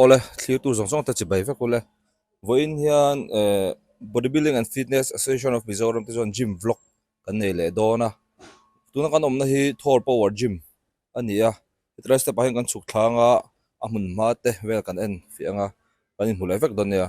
Awle, thlirtu zawng zawngte chi bai vek ule. Vawiin hian eh Bodybuilding and Fitness Association of Mizoram te chuan gym vlog kan nei leh dawn a. Tuna kan awmna hi Thor Power Gym a ni a. Hetilai step ah hian kan chhuk thlanga a hmun hma te vel kan en fiah ang a, kan inhmu leh vek dawn nia.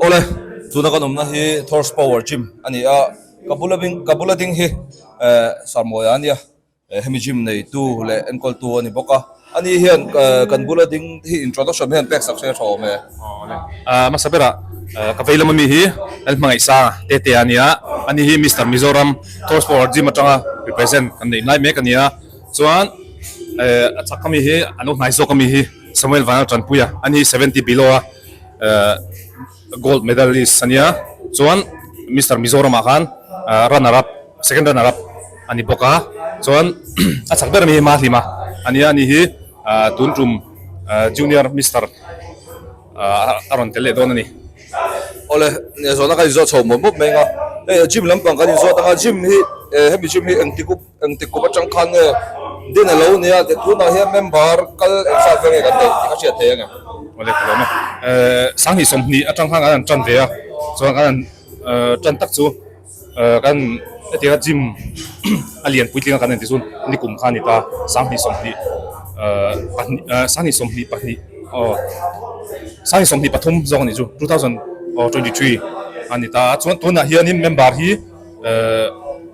Awle, tuna kan awmna hi Thor's Power Gym a ni a, ka bul aving ka bula ding hi Sarmawia a nia, hemi gym neitu leh enkawltu a ni bawk a, ani hian kan bula ding hi introduction hian pek sak hre tha awm e. Awle, hmasa bera ka vei lama mi hi Lal Hmangaihsa Tete a nia, ani hi Mister Mizoram Thor's Power Gym atanga represent kan neih lai mek a nia, chuan a chak ami hi a lo hnai zawk ami hi Samuel Vanlaltanpuia, ani hi seventy below a. Gold medalist a nia chuan Mister Mizoram ah khan runner up second runner up a ni bawk a chuan a chak ber ami hi Mahlima a nia a ni hi tun tum junior Mister a rawn tel leh dawn a ni. Awle nia zawhna kan in zawh chho mawp mawp mai anga hei a gym lampang kan in zawt anga gym hi hemi gym hi engtik up Engtik kum atang khan nge din a lo nia? Ti tunah hian member kal engzat vel nge kan neih tih ka hriat theih a ni. Aw le, ka lo mah. Sang hi sawmhnih atang khan kan han tan ve a, chuan kan han tan tak chu kan hetia gym a lian puitling a kan en tih chu ni kum kha a ni ta, sang hnih sawmhnih pahnih aw sang hnih sawmhnih pahnih aw sang hnih sawmhnih pathum zawk a ni chu two thousand twenty three a ni ta, chuan tunah hian member hi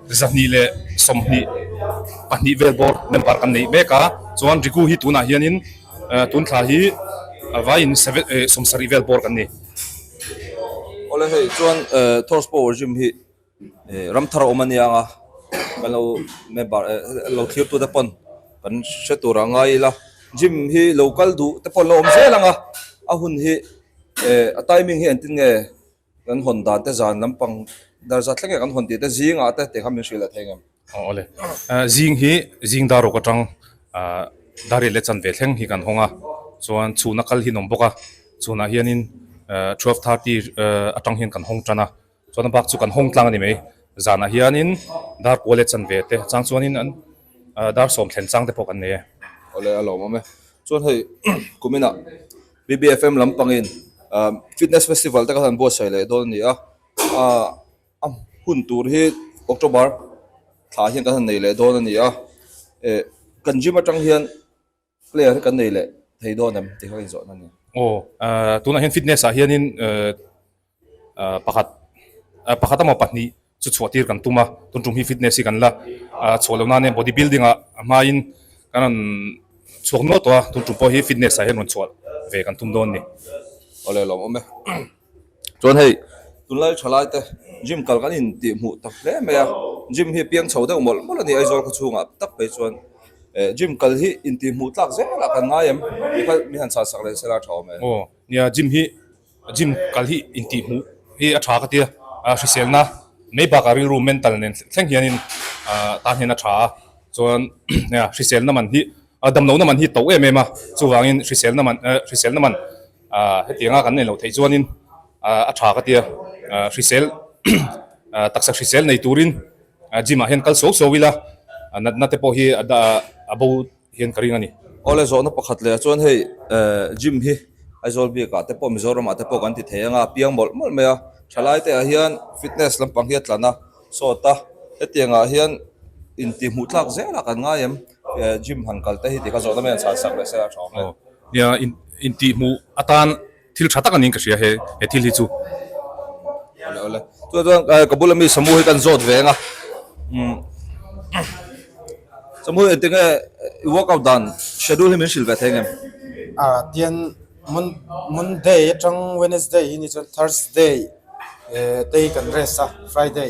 Zahnih leh sawmhnih pahnih vel bawr member kan neih mek a, chuan Riku hi tunah hianin tun thla hi a vaiin sawm sarih vel bawr kan ni. Awle hei chuan Thors pawh regime hi ram thar a awm a nia anga kan lo member kan lo thlirtu te pawn kan hre tur a ngai ila, gym hi lo kal duh te pawh lo awm zel anga a hun hi a timing hi engtin nge? Kan hawn dan te zan lampang dar zat thleng nge kan hawn tih te zing ah te te kha min hrilh leh thei ngam? Aw awle. Zing hi zing dar awk atang dar rilh leh chan ve thleng hi kan hawng a, chuan chhun a kal hi an awm bawk a, chhun ah hian in twelve thirty atang hian kan hawng tan a, chuan a bak chu kan hawng tlang a ni mai, zan ah hian in dar kual leh chan ve te chang chuan in dar sawm thlen chang te pawh kan nei e. Awle a lo awm e, chuan hei kumin ah. BBFM lam pangin fitness festival te kha han buatsaih leh dawn a ni a, a hun tur hi October thla hian kan han nei leh dawn a ni a, kan gym atang hian player hi kan nei leh thei dawn em tih kha kan inzawhna a ni. Aw tunah hian fitness ah hianin. pakhat pakhat emaw pahnih chu chhuah tir kan tum a tun tum hi fitness hi kan la a chhuah loh nane body building ah a hmai in kan rawn chhuak nual tawh a tun tum pawh hi fitness ah hian rawn chhuah ve kan tum dawn a ni aw leh lo awm e chuan hei tunlai tha lai te gym kal kan in tih hmuh tak hle mai a gym hi piang chho deuh mawlh mawlh a ni aizawl khaw chhung ah tak phei chuan eh gym kal hi in tih hmuh tlak zel ah kan ngai em mi kha mi han chhahsak leh sela tha awm e aw nia gym hi Gym kal hi intih hmuh hi a tha ka tia, hriselna mei bakah rilru mental nen thleng hianin tahngena a tha a, chuan hriselna man hi damlohna man hi to em em a, chuvangin hriselna man hriselna man hetianga kan neilo theih chuanin a tha ka tia, hrisel taksa hrisel nei turin gym ah hian kal so so ila natna te pawh hi a bo. hian ka ring a ni. Aw le zawhna pakhat leh chuan hei gym hi Aizawl bik ah te pawh Mizoram ah te pawh kan ti thei anga piang mawlh mawlh mai a thalai te ah hian fitness lampang hi a tlan a sawt a hetiang ah hian in tih hmuh tlak zel a kan ngai em gym han kal te hi ti kha zawhna mai an chhan sak leh se a a thawk hle nia in tih hmuh atan. Thil tha tak anin ka hria he he thil hi chu. Awle awle. Chutah chuan eh ka bula mi Samu hi kan zawt ve anga umm Samu engtin nge i workout dan schedule hi min hrilh ve thei ang em? Ah tian mon Monday atang Wednesday ini chuan Thursday eh te hi kan rest a Friday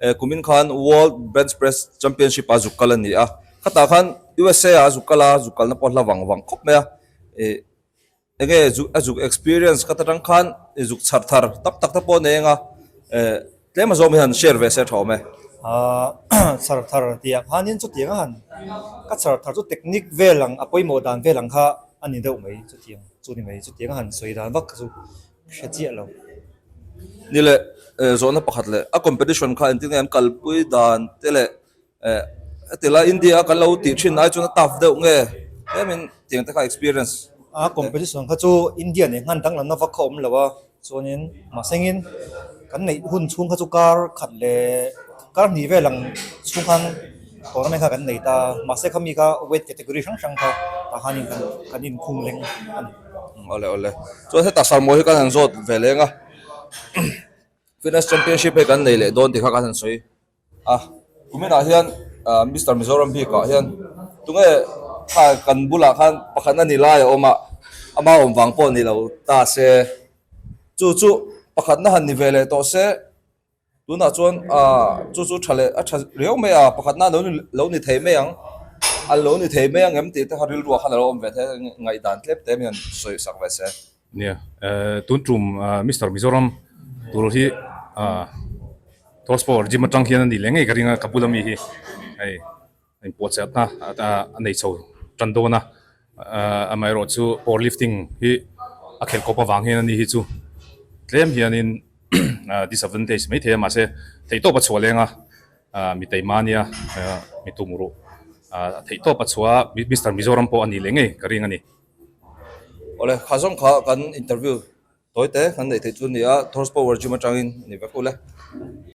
E kumin khan World Bench Press Championship-a zuk kal a ni a, khatah khan USA-a zuk kal a, zuk kalna pawh hla vang vang khawp mai a. E enge zuk a zuk experience ka ta tang khan i zuk chhar thar tak tak te pawh nei anga e tlem azawng hian share ve se thawm e. A chhar thar tihah khanin chutianga han ka chhar thar chu technique vel ang a pawimawh dan vel ang kha a ni deuh mai chutiang chu ni mai, chutianga han sawi dan vak kha chu hre chiah lo. Ni leh zawhna pakhat leh a competition kha engtin nge an kalpui dan te leh heti lai India kan lo tih thin ai chuan a tough deuh nge hemi'n tiang te kha experience a competition kha chu India leh nghan danglam na vak kha awm lo a chuanin mahsengin kan neih hun chhung kha chu kar khat leh kar hnih vel ang chhung khan tournament kha kan nei ta mahse kha mi kha weight category hrang hrang kha tah khan kan inkhung leng a ni. Awle awle. Chuan heta Salmawi hi kan han zawt ve leng a. Fitness Championship hei kan nei leh dawn tih kha kan han sawi a. Kuminah hian Mister Mizoram bikah hian tunge kan bulah khan pakhat a ni lai a awm a, a mau awm vang pawh a nih lo ta se. Chu chu pakhatna han ni ve leh tawh se, Tunah chuan chu chu tha leh a tha riau mai a, pakhatna lo ni thei mai ang, a lo ni thei mai ang em tih te kha rilruah khan a lo awm ve thei a, ngaih dan tlem te mai an sawi sak ve se. Nia, tun tum Mister Mizoram tur hi Thawspaw regime atang hian a nih leh ngei ka ring a, ka bul ami hi hei. Inpuahchhiatna a nei chho tan dawn a, amaherawh chu powerlifting hi a khelh khawp avang hian a ni hi chu tlem hianin disadvantage maithei a, mahse theihtawp a chhuah lenga mi Taimania mi Tumuruh theihtawp a chhuah a, Mister Mizoram pawh a nih leh ngei ka ring a ni. Awle, kha zawng kha kan interview tawi te kan neih theih chu a ni a, Thor's Power Gym atangin ni vek ule.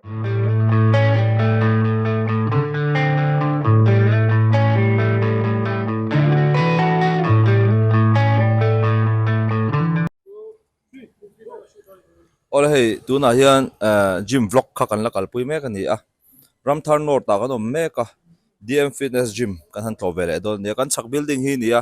Awle hei tunah hian ehh gym vlog kha kan la kalpui mek a ni a ramthar north ah kan awm mek a D M fitness gym kan han tlawh ve leh dawn a ni a kan chhak building hi a ni a.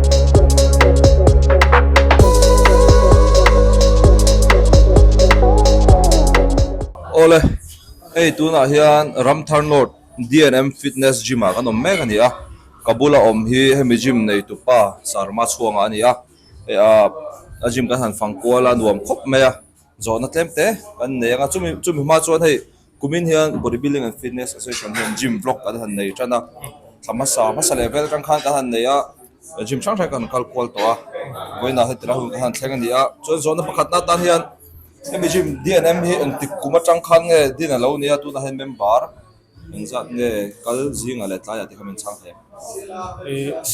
Awle, hei tunah hian ramthar nawt D and M fitness gym ah kan awm mek a ni a ka bula awm hi hemi gym neitu pa sarma chhuanga a ni a hei a a gym kan han fang kual a nuam khawp mai a. Zawhna tlem te kan nei ang a, chumi chumi hma chuan hei kumin hian Bodybuilding and Fitness Association hian gym block kan han nei tan a, thla hmasa hmasa leh vel atang khan kan han nei a, gym hrang hrang kan han kal kual tawh a, vawiinah heti lai hun kan han thleng a ni a, chuan zawhna pakhat na tan hian hemi gym dnm hi engtik kum atang khan nge din a lo ni a, tunah hian member engzat nge kal zingah leh tlaiah te kha min chhang thei ang.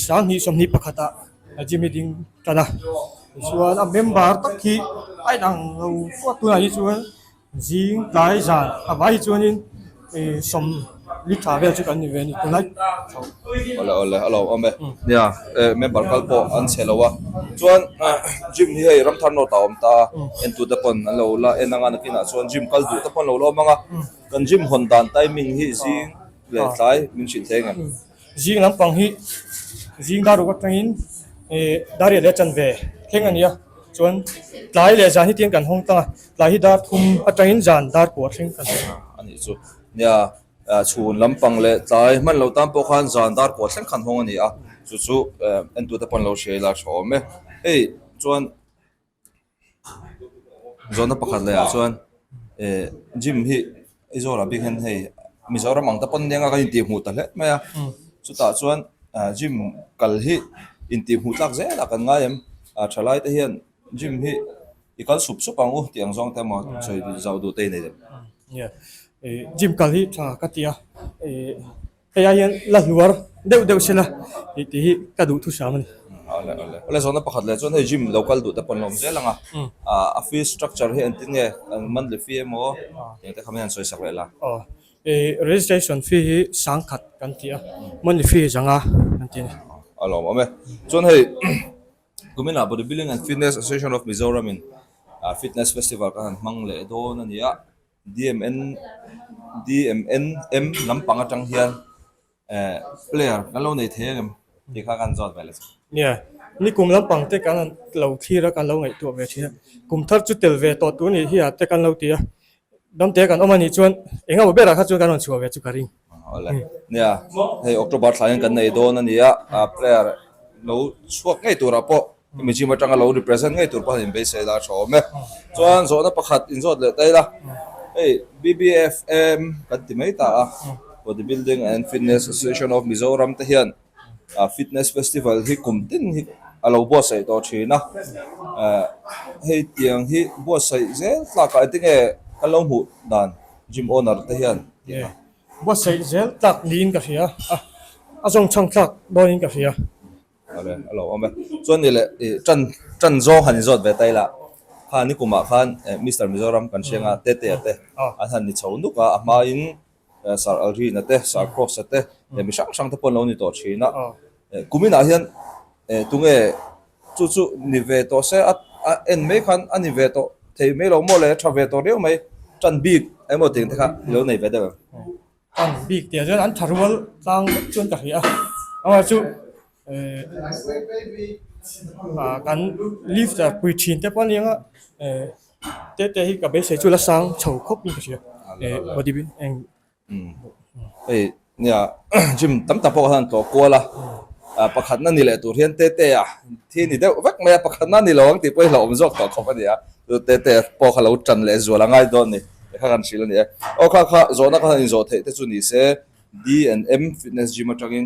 Hrang hi sawmhnih pakhatah A gym hi ding tlat a tichuan a member tak hi a inang lo fuat tunah hi chuan zing tlai zan a vai hi chuanin ih sawm li tha vel chu kan ni ve a ni tunlai tho awle awle a lo awm e nia eh member kal pawh an chhe lo a chuan gym hi hei ramthar nawt a awm ta a entute pawn an lo la en anga nakinah chuan gym kal duh te pawh an lo la awm ang a kan gym hawn dan timing hi zing leh tlai min hrilh thleng em. Zing lampang hi zing dar ruk atangin dar riat leh a chan ve thleng a nia. Chuan tlai leh zan hi tiang kan hawng tlang a, tlai hi dar thum atangin zan dar pawh a thleng kan hawng a. A nih chu nia, chhun lampang leh tlai hman lo tan pawh khan zan dar pawh a thleng kan hawng a ni a, chu chu en tur te pawh an lo hriailai tha awm e. Hei chuan. Zawhna pakhat leh ah chuan eh gym hi Aizawl ah bik hian hei Mizoram ang te pawn nia kan intih hmuh ta hle mai a chutah chuan ah gym kal hi intih hmuh tlak zel a kan ngai em ah tha lai te hian gym hi i kal sup sup ang u tih ang zawng te a maw sawi zah duh te a ni lem. Kei ah hian la hluar deuh deuh sela tih ti hi ka duh thu hram a ni. Awle awle. Awle zawkna pakhat leh chuan hei gym lo kal duh te pawh ni awm zel ang a. Ahh a fees structure hi entin nge? Monthly fee emaw engte kha hian an sawisak leh la. Aw. I registration fee hi sang khat kan ti a, monthly fee hi zang a kan ti a ni. A lo awm e. Chuan hei Kumina Bodybuilding and Fitness Association of Mizoram in fitness festival kan han hmang leh dawn a nia. DMNM lampang atang hian player kan lo nei thei em em tih kha kan zawt ve la chang. Nia, nikum lampang te kan lo thlir a, kan lo ngaihtuah ve thin a, kum thar chu tel ve tawh tur nih hi a te kan lo ti a, damte kan awm a nih chuan engemaw berah kha chuan kan rawn chhuah ve chu ka ring. Nia, hei October thlai hian kan nei dawn a nia, a player lo chhuak ngei turah pawh hemi gym atanga lo represent ngei tur pawh han inbeisei lai a tha awm e. Chuan zawhna pakhat in zawt leh ta ila, hei BBFM kan ti mai ta a, Bodybuilding and Fitness Association of Mizoram te hian, Fitness Festival hi kum tin hi a lo buatsaih tawh thin a, hei tiang hi buatsaih zel tlakah eng tinge kan lo hmuh dan gym owner te hian tih a ni a. Buatsaih zel tlak niin ka hria a, a zawng chhang thlak dawnin ka hria. Awle a lo awm e. Chuan ni le i tan tan zawng han inzawt ve tai la, kha ni kumah khan Mister Mizoram kan hria nga, Tete te an han ni chho nuk a, a hmain Sir Alrina te, Sir Cross-a te, e mi hrang hrang te pawh an lo ni tawh thin a. E kuminah hian e tunge chu chu ni ve tawh se a a en mai khan a ni ve tawh thei mai lo maw le, tha ve tawh riau mai tan bik emaw tih ang te kha i lo nei ve deuh em? Tan bik tih ah chuan an tha rual tlang vek chuan ka hria, engmah chu Kan leave ta pui thin te pawh a ni ang a, te te hi ka beisei chu la sang chho khawp in ka hria, body building eng hei nia gym tam tak pawh khan an tlawh kual a, pakhatna ni leh tur hian te te a thi ni deuh vek mai a, pakhatna ni lo ang tih pawh i hla awm zawk tawh khawp a nia, chu te te pawh kha lo tan leh zual a ngai dawn a ni, ti kha kan hrilh a ni e, aw kha kha zawhna kha in zawh theih te chu ni se D and M fitness gym atangin.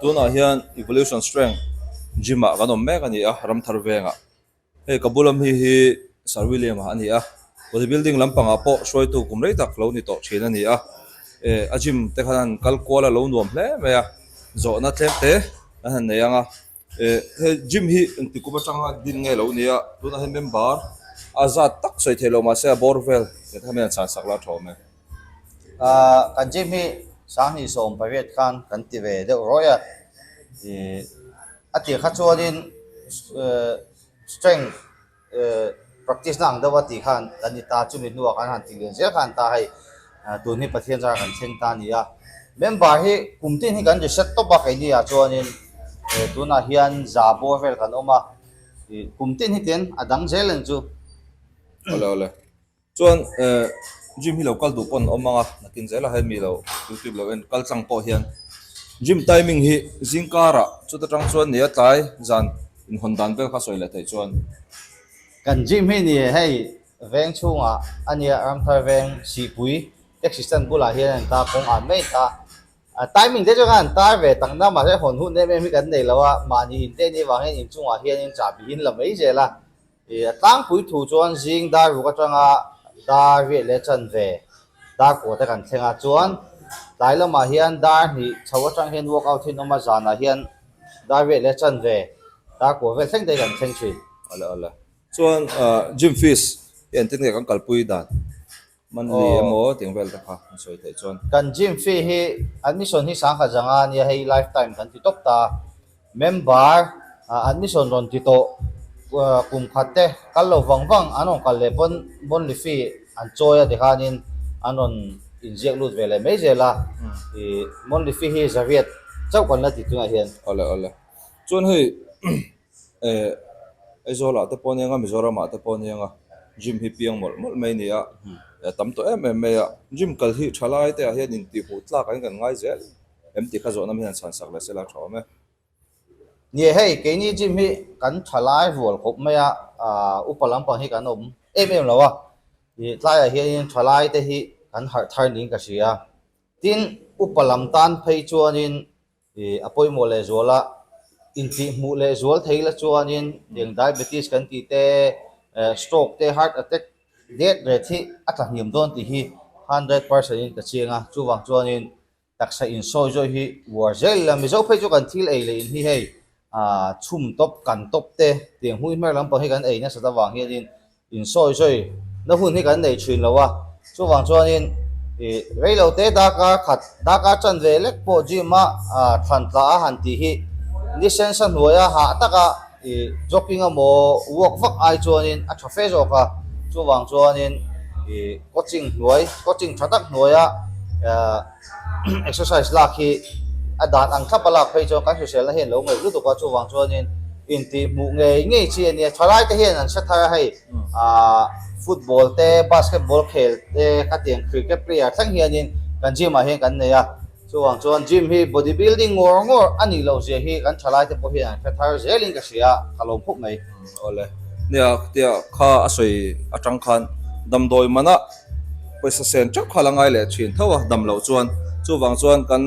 tunah hian evolution strength gym ah kan awm mek a ni a ram thar vengah hei ka bula mi hi sir william a ni a body building lam pangah pawh hruaitu kum rei tak lo ni tawh thin a ni a eh a gym te khan a han kal kual a lo nuam hle mai a zawhna tlem te an han nei ang a. Eh he gym hi engtik kum atanga din nge lo nia tunah hian member a zat tak sawi theih loh mahse a bawr vel heta hian a chhansak la thawm e. Ahh kan gym hi sanghnih sawm pariat khan kan ti ve deuh ruai a, ih a tih kha chuan in strength, Practice na ang deuh a tih khan kan ni ta, chumi hnuah kan han tihlim zel khan ta hei tun hi Pathian zara kan thleng ta ni a. Member hi kum tin hi kan ri set tawp a, keini ah chuanin tunah hian za bawr vel kan awm a, kum tin hi tian a dang zel en chu. Chuan gym hi lo kal duh paw'n awm ang a, nakin zela hian mi lo kultip lo en kal chang pawh hian gym timing hi zingkara chuta tang chuan nia tlai zan inhawn dan vel kha sawi leh thei chuan. Kan gym hi ni hei veng chhungah a nia, Ramthar veng Sihpui taxi stand bulah hian a intar kawng ah mai kha. Timing te chu khan tar ve tak na mahse hawn hut nem em hi kan nei lo a, mahni in te ni avangin inchungah hianin chahbih in la mai zel a. A tlangpui thu chuan zing dar ruk atanga dar riah leh chan ve dar kawh te kan thleng a, chuan tlai lamah hian dar hnih chho atang hian walk out hian awm a, zanah hian dar riah leh chan ve dar kawh vel thleng te hi kan thleng thin. Chuan gym fees hi engtin nge kan kalpui dan? Monthly emaw tih ang vel ta kha an sawi theih chuan. Kan gym fee hi admission hi sangkhat zanga a nia hei lifetime kan ti tawp ta a, member admission rawn ti tawh kum khat te kal lo vang vang an rawn kal leh pawn monthly fee an chawi a tikhan in an rawn in ziak lut ve leh mai zel a, i monthly fee hi zariat chauh kan la ti tunah hian. Awle awle chuan hei. Eh, Aizawlah te pawh ni anga Mizoramah te pawh ni anga gym hi piang mawlh mawlh mai ni a, eh tam tawh em em mai a. Gym kal hi tha lai te ah hian in tih hmuh tlak ah hian kan ngai zel em tih kha zawh nam hian an chhan sak leh se lai thawm e. Ni e, hei keini gym hi kan tha lai rual khawp mai a, ah upa lampang hi kan awm em em lo a, ih tlai ah hian in tha lai te hi kan harh thar niin ka hria. Tin upa lam tan phei chuan in A pawimawh leh zuala intlih hmuh leh zual thei ila chuanin heng diabetes kan tih te, stroke te, heart attack det ret hi a tla hniam dawn tih hi hundred percent in ka chiang a. Chuvang chuanin taksa insawi zawih hi uar zel ila mizo phei chu kan thil ei leh in hi hei Aa, chhum tawp, kan tawp te, tiang hmui hmer lampang hi kan ei nasat avang hianin insawi sawi na hun hi kan nei thin lo a, chuvang chuanin ih rei lo te darkar khat darkar chan ve lek pawh gym a aa thlan tla a han tih hi licence a hnuai a hah tak a ih jogging a maw walk vak ai chuanin a tha fe zawk a, chuvang chuanin ih coaching hnuai coaching tha tak hnuai a aa. Exercise lak hi a dan ang thlap a lak phei chuan kan hriselna hian lo ngaih lutuk a, chuvang chuanin intih hmuh ngei ngei chi a nia. Thalai te hian an hre thar a hei, aah football te, basketball khel te khatiang cricket player thleng hianin kan gym ah hian kan nei a, chuvang chuan gym hi body building ngawr ngawr a nih loh zia hi kan thalai te pawh hian an hre thar zel in ka hria, ka lawm khup mai. Awle. Nia, tia kha a sawi atang khan damdawi manah. Pawisa sen teuh kha la ngai leh thin tho a dam loh chuan. Chuvang chuan kan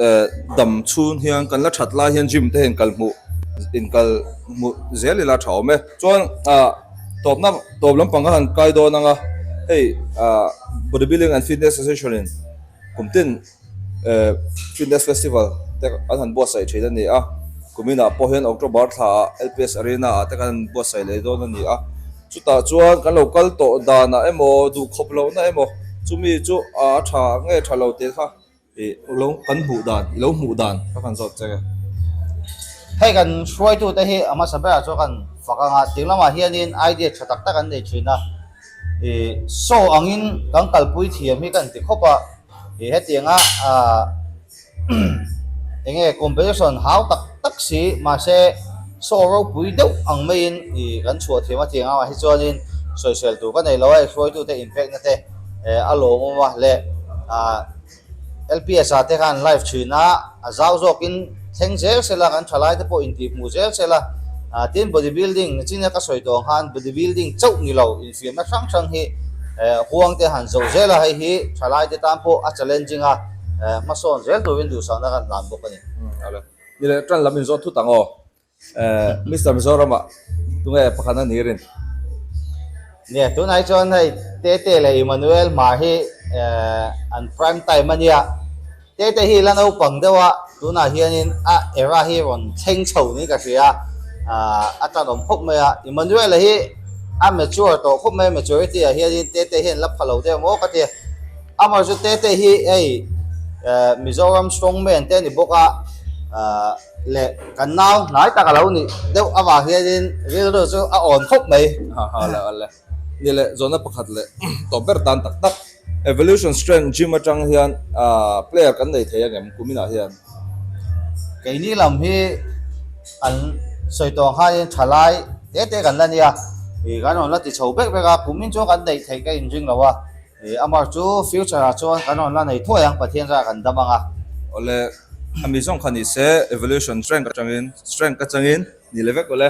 eh dam chhun hian kan la that lai hian gym te hian kal hmuh inkal hmuh zel ila tha awm e. Chuan ah tawpna tawp lampang kha han kai dawn anga hei ah Bodybuilding and Fitness Association in kum tin. Fitness Festival te an han buatsaih thin a ni a, kuminah pawh hian October thla ah LPS Arena ah te kan han buatsaih leh dawn a ni a, chutah chuan kan lo kal tawh danah emaw, duh khawp lohna emaw chu mi chu a tha nge tha lo te kha i lo kan hmuh dan, i lo hmuh dan kha kan zawt che. Hei kan hruaitute hi a hmasa berah chuan kan fak anga ding lamah hianin idea tha tak tak an nei thin a, i show angin kan kalpui thiam hi ka han ti khawp a, Ih hetianga ahh enge competition hau tak tak si mahse saw ropui deuh ang maiin ih kan chhuah thiam a tiang amah hi chuanin sawisel tur ka nei lo a i hruaitute in pek nate a lawmawm a leh ahh lps ah te khan live thin a. A zau zawkin thleng zel sela kan thalai te pawh intih hmuh zel sela tin body building nachina ka sawi tawh ang khan body building chauh ni lo infiamna hrang hrang hi huang te han zo zela hei hi thalai te tan pawh a challenging a hmasawn zel turin duhsakna kan dan bawk a ni. Ni leh tan lam in zawt thut ang aw. Mister Mizoram ah tunge pakhat a ni rin? Nge, tunai chuan hei Tete leh Emmanuel hma hi an prime time a nia. Tete hi la naupang deuh a tunah hianin a era hi rawn thleng chho niin ka hria. A tanawm khawp mai a. Emmanuel a hi a mature tawh khawp mai a, maturity ah hianin Tete hi an la pha lo deuh maw ka ti a. Amaherawhchu Tete hi hei Mizoram strongman te a ni bawk a. leh kan nau hnai tak a lo nih deuh avang hianin rilru chu a awn khawp mai. Ni leh zawhna pakhat leh tawp ber tan tak tak. Evolution Strength Gym atang hian player kan nei thei angem kumin ah hian? Keini lam hi an sawi tawng khanin thalai te te kan la nia, kan rawn la ti chho vek vek a, kumin chuan kan nei thei ka in ring lo a. He Amar chu future ah chuan kan rawn la nei thuai ang, Pathian zara kan dam ang a. Awle, a mi zawng kha ni se, evolution strength atangin, strength ka changin ni le vek lo le.